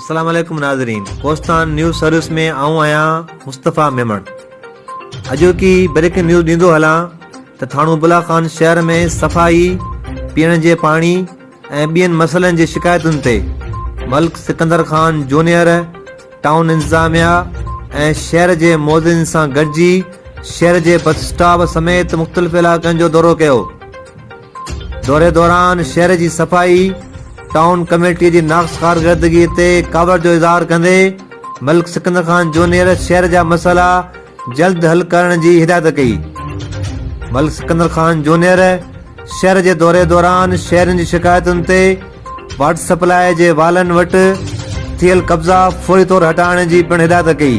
السلام عليڪم ناظرين ڪوستان نيوز سروس ۾ آئون آهيان مصطفيٰ ميمڻ اڄوڪي بريڪنگ نيوز ڏيندو هلان ته ٿاڻو بلا خان شهر ۾ صفائي پيئڻ جي پاڻي ۽ ٻين مسئلن جي شڪايتن تي ملڪ سڪندر خان جونيئر ٽائون انتظاميا ۽ شهر جي معززين سان گڏجي شهر جي بس اسٽاپ سميت مختلف علائقن جو دورو ڪيو دوري دوران شهر جي صفائي ٽائون ڪميٽي جي ناقص ڪارڪردگي تي ڪاوڙ جو اظهار ڪندي ملڪ سڪندر خان جونيئر شهر جا مسئلا جلد حل ڪرڻ جي هدايت ڪئي. ملڪ سڪندر خان جونيئر شهر جي دوري دوران شهرين جي شڪايتن تي واٽر سپلائي جي والن وٽ ٿيل قبضا فوري طور هٽائڻ جي پڻ هدايت ڪئي.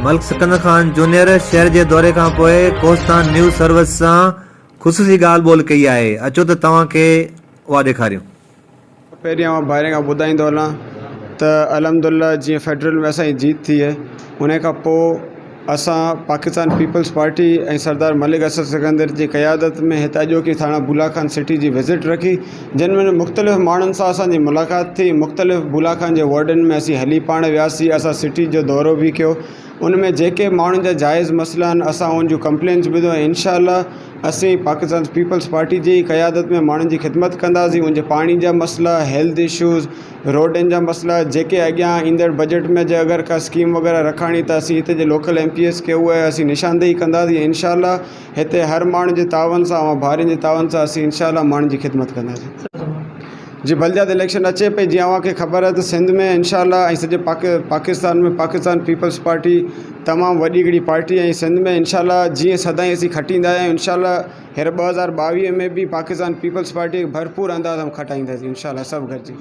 ملڪ سڪندر خان جونيئر شهر جي دوري کان پوء ڪوهستان نيوز سروس سان خصوصي ڳالهه ٻولهه ڪئي آهي اچو ته توهان کي اها ڏيکاريون. پهريان آئون ڀائرن کان ٻڌائيندو هلان ته الحمدالله جيئن فيڊرل ۾ اسانجي جيت ٿي هي ان کان پوء اسان پاڪستان پيپلز پارٽي ۽ سردار ملڪ اسد سڪندر جي قيادت ۾ هت اڄوڪي ٿاڻا بولا خان سٽي جي وزٽ رکي جن ۾ مختلف ماڻهن سان اسانجي ملاقات ٿي مختلف بولا خان جي وارڊن ۾ اسين هلي پاڻ وياسي اسان سٽي جو دورو به ڪيو ان ۾ جيڪي ماڻهن جا جائز مسئلا آهن اسان ان جون ڪمپلينس ٻڌو ۽ انشاء الله اسين پاڪستان پيپلز پارٽي جي قيادت ۾ ماڻهن جي خدمت ڪنداسين ان جي پاڻي جا مسئلا هيلٿ اشوز روڊن جا مسئلا جيڪي اڳيان ايندڙ بجيٽ ۾ جي اگر ڪا اسڪيم وغيره رکاڻي ته اسين هتي جي لوڪل ايم پي ايز کي اهي اسين نشاندهي ڪنداسين انشاء الله هتي هر ماڻهن جي تعاون سان اوهان ڀائرن جي تعاون سان اسين انشاء الله ماڻهن جي خدمت ڪنداسين جي بلديات اليڪشن اچي پئي جيئن اوهان کي خبر آهي ته سنڌ ۾ انشاء الله ۽ سڄي پاڪ پاڪستان ۾ پاڪستان پيپلز پارٽي تمام وڏي هڪڙي پارٽي ۽ سنڌ ۾ انشاء الله جيئن سدائين اسين کٽيندا آهيا ۽ انشاء الله هينئر ٻه هزار ٻاويهه ۾ به پاڪستان پيپلز پارٽي کي ڀرپور انداز ۾ کٽائينداسين انشاء الله سڀ گڏجي